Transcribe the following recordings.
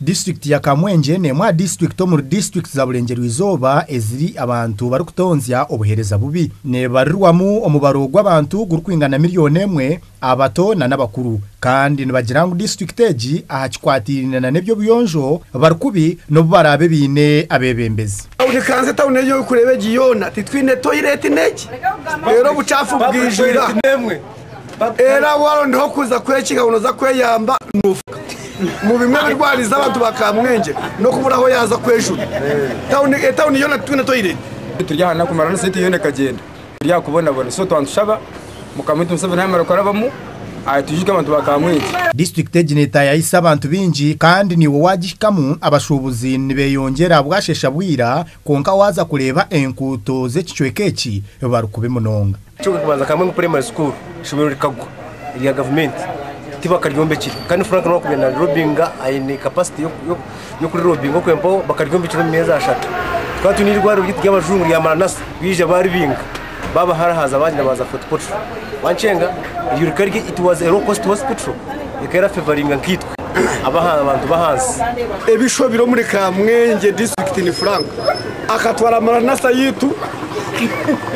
Disiturikiti ya Kamwenje n'emwe aha disiturikiti omuri disiturikiti za Burengyerwa-Izooba eziri abantu barikutonzya obuheereza bubi. Neebarirwamu omubaro gw'abantu gurikwingana milioni emwe, abato nana abakuru, kandi nibagira ngu disiturikiti egi aha kikwataine nana eby'obuyonjo bari kubi n'obu baraabe baine abeebembezi. Obukanza etauni ei orikureeba egi yoona titwine toilet n'egi reero obucaafu bwijwire aha. Era warondaho kuza kwekinga ngu noza kweyamba nofuka mu bimwe ebirwariza abantu ba kamwengye nokubura aho yaza kwejura Town etown yona titwine toilet. Turi aha naku marana sente yona ekagyenda turi aha kubonabona so twantushaba mukama witu museveni yamara kurabamu atwijuke abantu ba kamwengye. District egi netayayisa abantu bingi kandi niiwe wagihikamu abashubuzi nibeyongyera ahabwashesha bwira kwonka waza kureba enkuuto zekicweka eki barikubi munonga. Kyonka akabanza ka Mwengu Primary School eishomero rikagwa erya gavumenti tibakaryombekire kandi Frank nobu akubaire narirobinga aine capacity y'okurirobinga okwempaho bakaryombekire omu myezi ashatu twaba twine eirwariro ryaitu ry'abajungu rya Maranatha baija baaribinga baabaharahaaza baagira baaza Fort Portal Wankyenga eryo rikaba riri it was a low cost hospital ekaba erafevaringa nkaitwe. abantu b'ahansi. Ebisho biri omuri Kamwengye disiturikiti ni Frank akatwara maranasa yaitu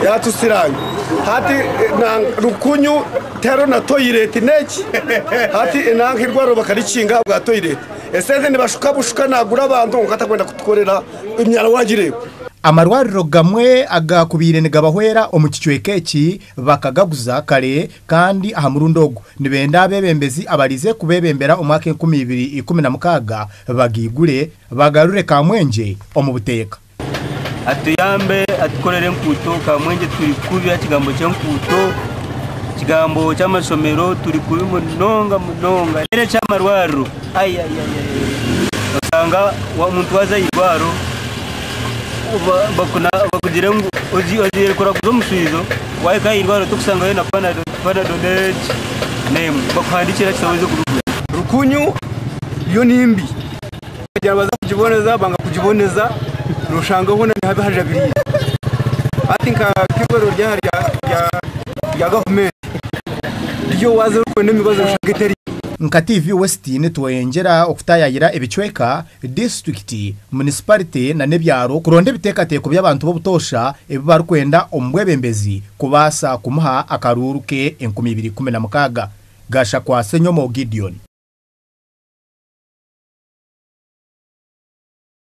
yatusiranga hati eh, rukunyu tero na toireti neki hati enanka eh, irwariro bakarikinga habwa toireti esente nibashuka bushuka nagura abantu nka atakwenda kutukorera emyaro wagireba amarwariro gamwe agakubaire nigabahwera omu kicweka eki Bakagaguza kare kandi aha murundi ogu nibenda abeebembezi abarize kubeebembera omwaka enkumi ibiri ikumi na mukaaga bagaigure bagarure Kamwengye omu buteeka. Atuyambe atukorere enkuuto Kamwengye turi kubi aha kigambo ky'enkuuto, ekigambo ky'amashomero turi kubi munonga munonga, n'eky'amarwariro. Oshanga omuntu waaza aha irwariro bakugire ngu ogiire kuraguza omuswijo, waahika aha irwariro torikusangayo na panado n'emwe, bakuhandiikira ekitabo oze kubigura. Rukunyu yo ni mbi, twagira ngu baza kugiboneza banga kugiboneza, nooshanga hoona nihabi hajabiraire. Hati nk'eirwariro ryaaha rya gavumenti... Nka TV Westin tweyongyera okutaayaayira ebicweka, disiturikiti, munisiparite nana ebyaro kuronda ebiteekateeko by'abantu b'obutoosha ebi barikwenda omu bwebembezi kubaasa kumuha akaruuru ke enkumi ibiri ikumi na mukaaga. Gashakwa Senyomo Gideon.